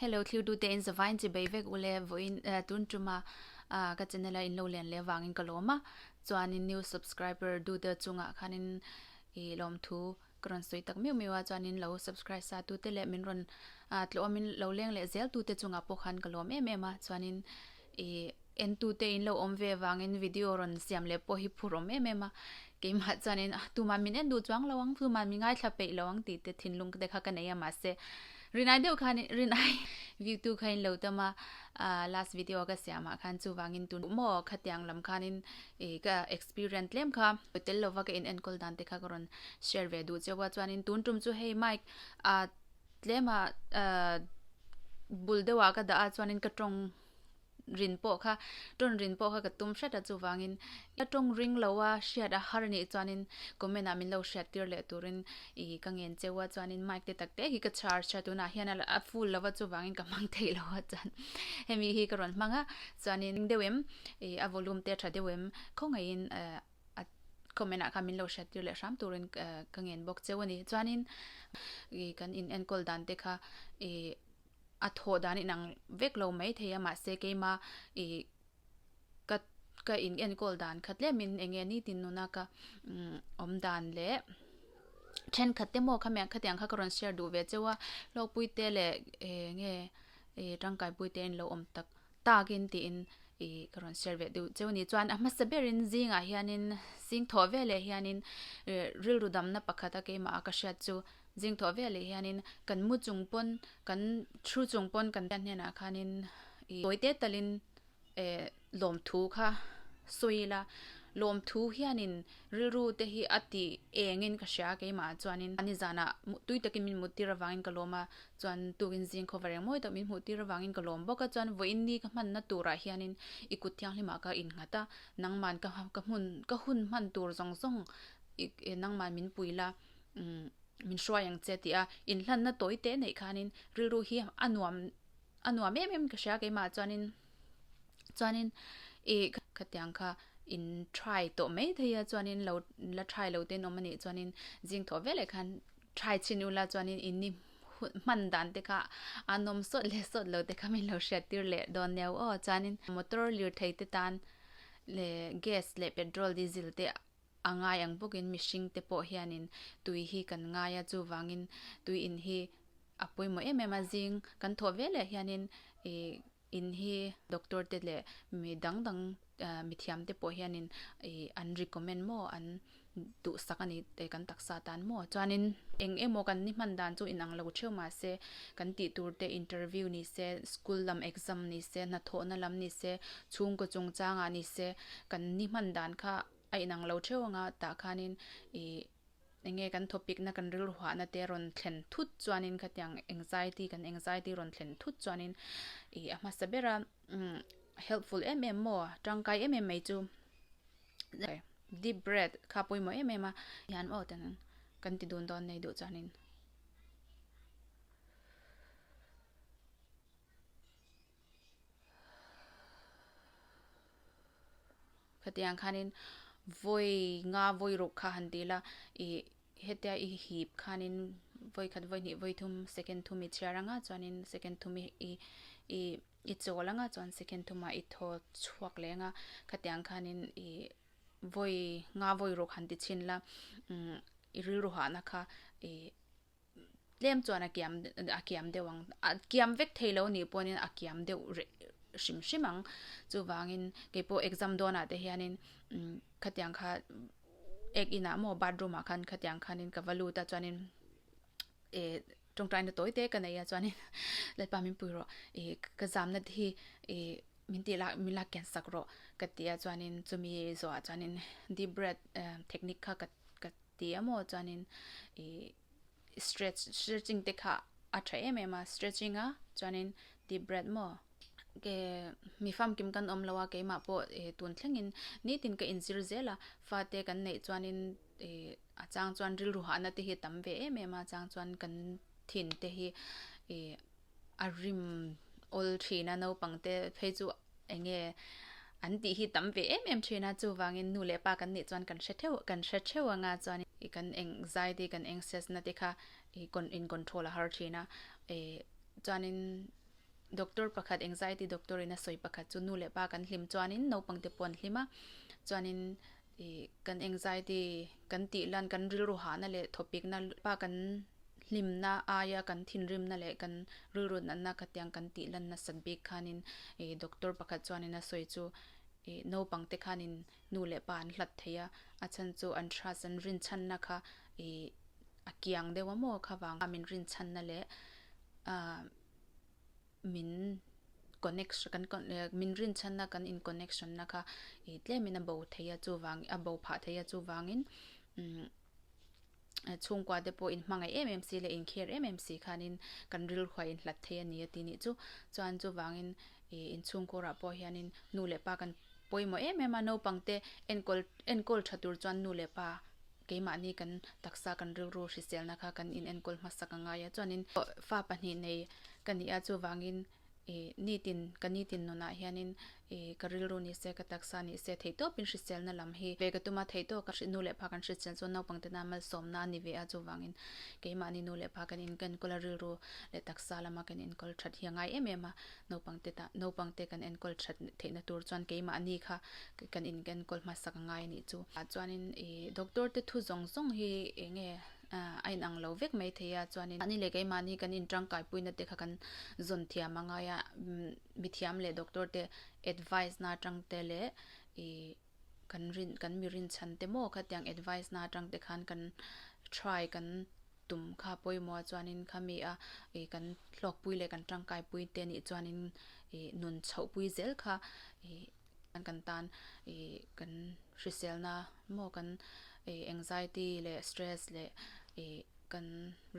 Hello thlirdute in zava in chibei vek ule vawiin tun tuma ka channel a in lo len leh vangin ka lawm a chuanin new subscriber duda chungah khanin i lawmthu ka rawn sawi tak meuh meuh a chuanin lo subscribe sa tute leh min rawn tlawmin lo leng leh zel tute chungah pawh khan ka lawm em em a chuanin i Entute in lo awm ve avangin video rawn siam leh pawh hi phur awm em em a, keimah chuanin a tumah min en duh chuang lo ang, tumah min ngaithla peih lo ang tih te thinlung te kha ka nei a, mahse rinai deuh khan rinai view tu kha in lo tam a, last video ka siamah khan chuvangin tun duh maw khati ang lam khanin ka experience tlem kha hmu tel lova ka in enkawl dan te kha ka rawn share ve duh cheu a, chuanin tun tum chu hei mic a tlema bul deuhah ka dah a chuanin ka tawng. rin pawh kha, tawn rin pawh kha ka tum hret a chuvangin ka tawng ring lo a hriat a har nih chuanin comment ah min lo hriat tir leh turin i ka ngen cheu a chuanin mic te tak te hi ka chhar chhia tunah hian a full lo va chuvangin ka hmang theih lo a chuan hemi hi ka rawn hmang a chuanin eng deuh em i a volume te a tha deuh em khawngaihin a comment ah kha min lo hriat tir leh hram turin ka ngen bawk cheu a ni chuanin i kan inenkawl dan te kha i. a thawh dan inang vek lo mai thei a mahse keima ih ka ka in enkawl dan khat lem in enge ni tin nun a ka awm dan leh thenkhat te maw khamian khatiang kha ka rawn share duh ve cheu a hlawkpuite leh enge tangkaipuite in lo awm tak-- takin tiin i ka rawn share ve duh cheu ni chuan a hmasa berin zingah hianin zing thawh ve leh hianin eh rilru damna pakhat a keimah a ka hriat chu zing thawh ve leh hianin kan mu chung pawn kan thu chung pawn kan hriat hnenah khanin i chawite talin eh lawmthu kha sawi ila lawmthu hianin rilru te hi a tih engin ka hria keimah chuanin ani zanah tui takin min muttir avangin ka lawm a Chuan tukin zing khaw va reng mawi tak min hmuh tir avangin ka lawm bawk a, chuan vawiin ni ka hmanna turah hianin i kut thianghlim ah ka inghat a, nangman ka ka hmun ka hun hman tur zawng zawng i i nangman min pui la umm min hruai ang che a ti a, inhlanna tawi teh neih khanin rilru hi a nuam a nuam em em ka hria a keimah chuanin chuanin i khatiang kha in try tawh mai daih a chuanin lo la try lo te'n awm a nih chuanin zing thaw veleh khan Try chin u la chuan in ni hman dan te kha a nawm sawt leh sawt lo te kha min lo hriat tir leh dawn nia aw chuan in motor lirthei te tan leh gas leh petrol diesel te a ngai ang bawk in mihring te pawh hian in tui hi kan ngai a chuvang in tui in hi a pawimawh em em a zing kan thawh ve leh hian in ih-- In hi doctor te leh mi dang dang ehh mi thiam te pawh hian in ihh an recommend maw an duh sak a ni tih kan taksa atan maw chuan in eng emaw kan ni hman dan chu in ang lo theuh mah se kan tih tur te interview ni se school lam exam ni se hnathawh na lam ni se chhungkaw chungchang ah ni se kan ni hman dan kha a in ang lo theuh ang a tah khan in ihh Eng nge kan topic na kan rilruah na te rawn thlen thut chuanin khatiang anxiety kan anxiety rawn thlen thut chuanin ih a hmasa bera helpful em em maw tangkai em em mai chu deep breath kha pawimawh em em a hian maw ten kan ti dun dawn nei duh chuanin Khatiang ang khanin vawi nga vawi ruk kha han ti la ih hetia i hip khanin vawi khat vawi hnih vawi thum second thum i chhiar anga chuanin second thum i i i chawl anga chuan second thum ah i thaw chhuak leh anga khatiang ang khanin ih vawi nga vawi ruk han ti chin la i rilru hahna kha ih-- tlem chuan a kiam a kiam deuh ang a kiam vek thei lo nih pawhin a kiam deuh reh hrim hrim ang chuvangin keipawh exam dawnah te hian in imm khatiang kha ek inah maw bathroom ah khan khatiang khan in ka va lut a chuan in ihh tawngtai na tawi te ka nei a chuan in lalpa min pui rawh ihh ka zamna te hi ihh min tih lak min lak kian sak rawh ka ti a chuan in chumi zawhah chuan in deep breath ahh technique kha ka ka Tih emaw chuanin ih stretch stretching te kha a tha em em a stretching a chuanin deep breath maw ke mi famkim kan awm lo a keimah pawh ih tun thlengin nitin ka inzir zel a fate kan neih chuanin ih a chang chuan rilru hahna te hi tam ve em em a chang chuan kan thin te hi ih a rim awl thin a naupang te phei chu Eng nge? An tih hi tam ve em em thin a, chuvangin nu leh pa kan nih chuan kan hre theuh, kan hre theuh anga chuan i kan eng zai te, kan eng sesna te kha i con, in control a har thin a. E chuanin doctor pakhat, anxiety doctor ina sawi pakhat chu nu leh pa kan hlim chuanin naupangte pawh an hlim a, chuanin, I kan anxiety kan tih lan kan rilru hahna leh thawpikna pa kan hlimna aia kan thinrimna leh kan rilru natna kha tiang kan tih lan nasat bik khanin i doctor pakhat chuanin a sawi chu i naupang te khanin nu leh pa an hlat thei a, a chhan chu an trust an rinchhanna kha i a kiang deuha maw kha vang kha min rinchhanna leh a. min connection kan min rinchhanna kan in connection na kha ih tlemin a bo thei a chuvang a bo phah thei a chuvangin umm chhungkua te pawh in hmangaih em em si leh in care em em si khanin kan rilruaih in hlat thei a ni a tih ni chu chuan chuvangin ih in chhungkura pawh hianin nu leh pa kan pawimawh em em a naupangte enkawl enkawl tha tur chuan nu leh pa-- Keimahni kan taksa kan rilru hriselna kha kan inenkawl hmasak a ngai a, chuanin fa pahnih nei ka nih a, chuvangin i nitin ka nitin nawnah hianin i ka rilru ni se, ka taksa ni se theihtawpin hriselna lam hi ve ka tum a, theihtawp ka nu leh pa kan hrisel chuan naupangte nan malsawmna a ni ve a, chuvangin keimahni nu leh pa kan inenkawl a, rilru leh taksa lama kan inenkawl that hi a ngai em em a. Naupang te tah naupang te kan enkawl that theihna tur chuan keimah ni kha kan in kan enkawl hmasak a ngai a nih chu. Tah chuanin i doctor te thu zawng zawng hi eng nge a in ang lo vek mai thei a chuanin mahni leh keimahni kan in tangkai puina te kha kan zawn thiam a ngai a. Mithiam leh doctor te advice na tangte leh i. Kan rin kan mi rinchhan te maw kha tiang advice na atang te khan kan try kan tum kha pawimawh chuanin kha mi a ih kan hlawkpui leh kan tangkaipui te nih chuanin ih nun chhohpui zel kha ih an kan tan ih kan hrisel na maw kan ih anxiety leh stress leh ih kan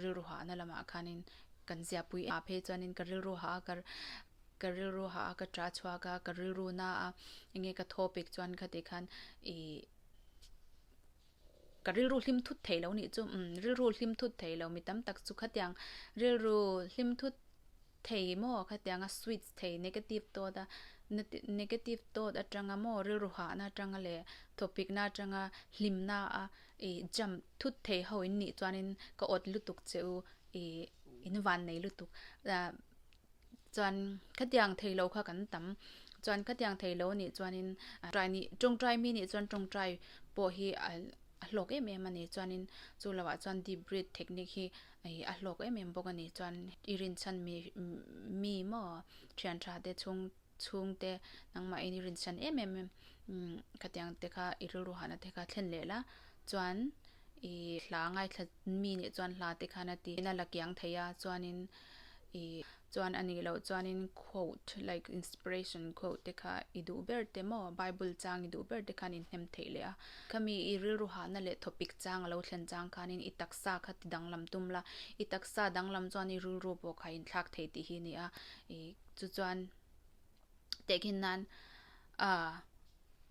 rilru hahna lamah khanin kan ziahpui a phei chuanin ka rilru ha a ka Ka rilru ha a, ka ṭah chhuak a, ka rilru na a, enge ka thawpik chuan kha tih khan ih ka rilru hlim thut thei lo nih chu, umm rilru hlim thut thei lo mi tam tak chu khatiang rilru hlim thut thei maw khatiang a switch thei negative thought a negative thought aṭanga maw rilru hahna aṭanga leh thawpikna aṭanga hlimna a ih jump thut thei ho in nih chuan in ka awt lutuk che u ih in van nei lutuk. Chuan khatiang thei lo kha kan tam. Chuan khatiang thei lo nih chuanin tawngtai nih tawngtai mi nih chuan tawngtai pawh hi a hlawk em em a ni. Chuanin chu lo ah chuan deep breed technique hi ih a hlawk em em bawk a ni. Chuan i rinchhan mi maw thianṭha te chung. chhung te nangmah in i rinsan em em em ka tih ang te kha i rilru hahna te kha thlen leh la chuan ih hla a ngaithla mi nih chuan hla te khan a ti in a la kiang thei a chuanin ih chuan anih loh chuanin quote like inspiration quote te kha i duh ber te maw bible chang i duh ber te khan in hnem theih leh a khami i rilru hahna leh topic chang a lo thlen chang khanin i taksa kha ti danglam tum la i taksa danglam chuan i rilru pawh kha inthlak thei tih hi a ni a ih. Chu chuan tehkhin nan a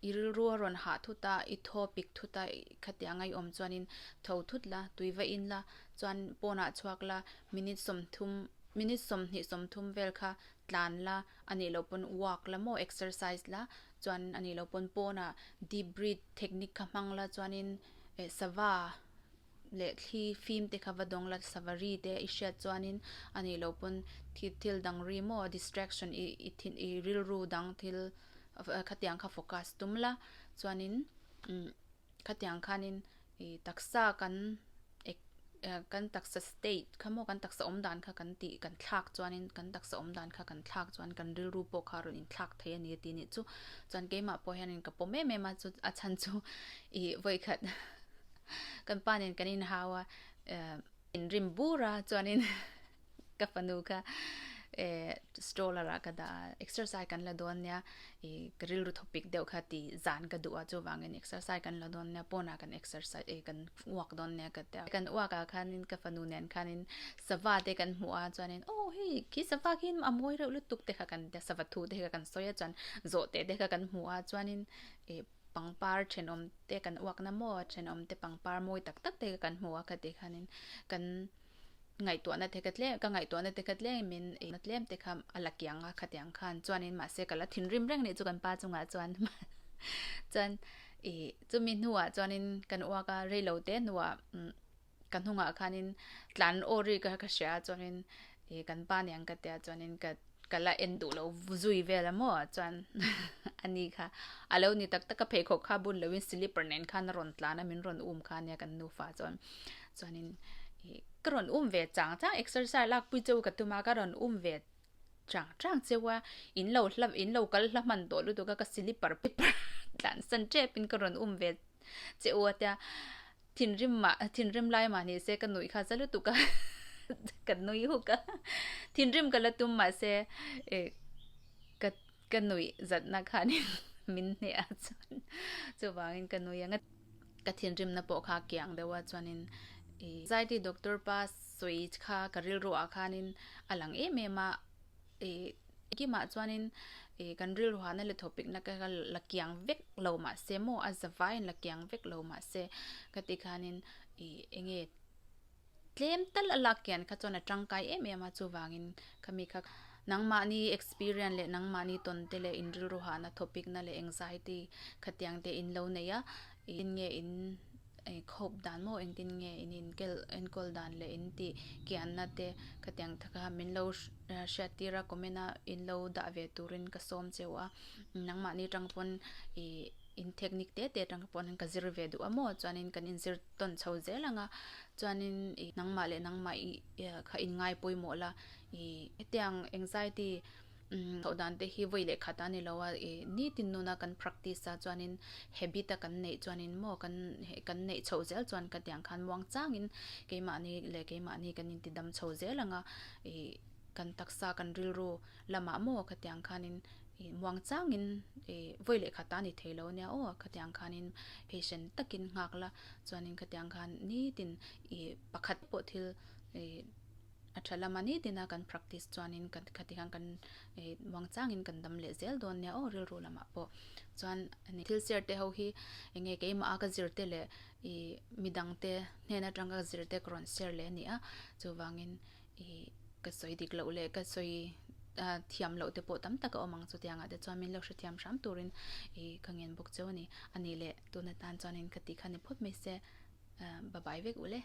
i rilru a rawn hah thut a, i thaw pik thut a, khatiah anga i awm chuanin tho thut la, tui va in la, chuan pawn ah chhuak la, minute sawmthum, minute sawmhnih sawmthum vel kha tlan la, a nih loh pawn walk la maw, exercise la, chuan a nih loh pawn pawnah deep breath technique kha hmang la chuanin sava. leh thli fim te kha va dawng la sava ri te i hriat chuanin a nih loh pawn thil thil dang ri maw distraction i i thin i rilru dang thil khatiang kha focus tum la chuanin umm khatiang khanin i taksa kan ek eh kan taksa state kha maw kan taksa awm dan kha kan tih kan thlak chuanin kan taksa awm dan kha kan thlak chuan kan rilru pawh kha a rawn inthlak thei a ni tih nih chu chuan keimah pawh hian ka pawm em em a chu a chhan chu ih vawikhat. Kan pa nen kan inhau a, in rim bur a, chuanin ka fanu kha stroller ah ka dah a, exercise kan la dawn nia, ka rilru thawpik deuh kha tih zan ka duh a, chuvangin exercise kan la dawn nia, pawnah kan exercise e, kan uak dawn nia ka tia. Kan uak ah khanin ka fanu nen khanin sava te kan hmu a, chuanin aw hei khi sava khi a mawi reuh lutuk te kha kan tia, sava thu te kha kan sawi a, chuan zawh teh te kha kan hmu a, chuanin pangpar thenawm te kan uakna maw thenawm te pangpar mawi tak tak te kan hmu a ka ti khan in kan ngaihtuahna te kha tlem ka ngaihtuahna te kha tlem in na tlem te kha a la kiang a khatiang khan chuan in mahse ka la thinrim reng nih chu kan pa chungah chuan chuan i chumi hnuah chuan in kan uak a rei lo te hnuah ka hnungah khanin tlan aw ri ka hria a chuanin ih kan pa nen ka tia chuanin ka ka la en duh loh zui vel a maw chuan a ni kha a lo ni tak tak a pheikhawk kha bun loin slipper nen khan a rawn tlan a min rawn um kha nia kan nufa chuan chuanin ih ka rawn um ve chang chang exercise lakpui cheu ka tum a ka rawn um ve chang chang cheu a in lo hla in lo kal hla hman tawh lutuk a ka slipper phipar tlan san tep in ka rawn um ve cheu a tia Thinrim mah, thinrim lai mah ni se ka nuih kha za lutuk a, ka nui huk a, thinrim ka la tum mah se ka nuih zat na khanin min hneh a chuan chuvangin ka nui ang a, ka thinrim na pawh kha kiang deuh a chuanin zaiti doctor pa sawi kha ka rilru ah khanin a lang em em a, Kimah chuanin kan rilruahna leh thawhpekna ka la kiang vek lo mah se maw, a za vaiin la kiang vek lo mah se, ka tih khanin eng nge tlem tal a lak kian kha chuan a tangkai em em a, chuvangin ka mi kha nangmahni experience leh nangmahni tawnte leh inrilruahna thawhpekna leh anxiety khatiang te in lo neih a, tin nge in. I khawp dan maw engtin nge in inkel enkawl dan leh in tih kianna te ka tiang tha kha min lo hriat tir a comment a in lo dah ve turin ka sawm cheu a nangmahni tang pawn i in technique te te tang pawn in ka zir ve duh a maw chuanin kan in zir tawn chho zel ang a chuanin i nangmah leh nangmah i kha in ngai pawimawh la i hetiang anxiety Tho dan te hi vawi lehkha ta ni lo a, i nitin nuna kan practice a chuanin habit a kan neih chuanin maw kan kan neih chhoh zel chuan ka tiang khan muang changin keimahni leh keimahni kan intidam chho zel ang a, i kan taksa kan rilru lamah maw ka tiang khanin i muang changin i vawi lehkha ta ni thei lo nia aw ka tiang khanin patient takin nghak la chuanin ka tiang khan nitin i pakhat pawh thil i. A tha lama ni tina kan practice chuanin kan khati khan kan eh vangchangin kan dam leh zel dawn nia aw rilru lamah pawh chuan ani thil sirte ho hi enge keimaha ka zirte leh ih midangte hnen atang ka zirte ka rawn share leh ania chuvangin ih ka sawi dik loh leh ka sawi ah thiam loh te pawh tam tak a awm ang chutianga te chuan min lo hrethiam hram turin ih ka ngen bawk cheu ani ani leh tuna tan chuanin khati khan i phawt mai se ah babai vek uleh.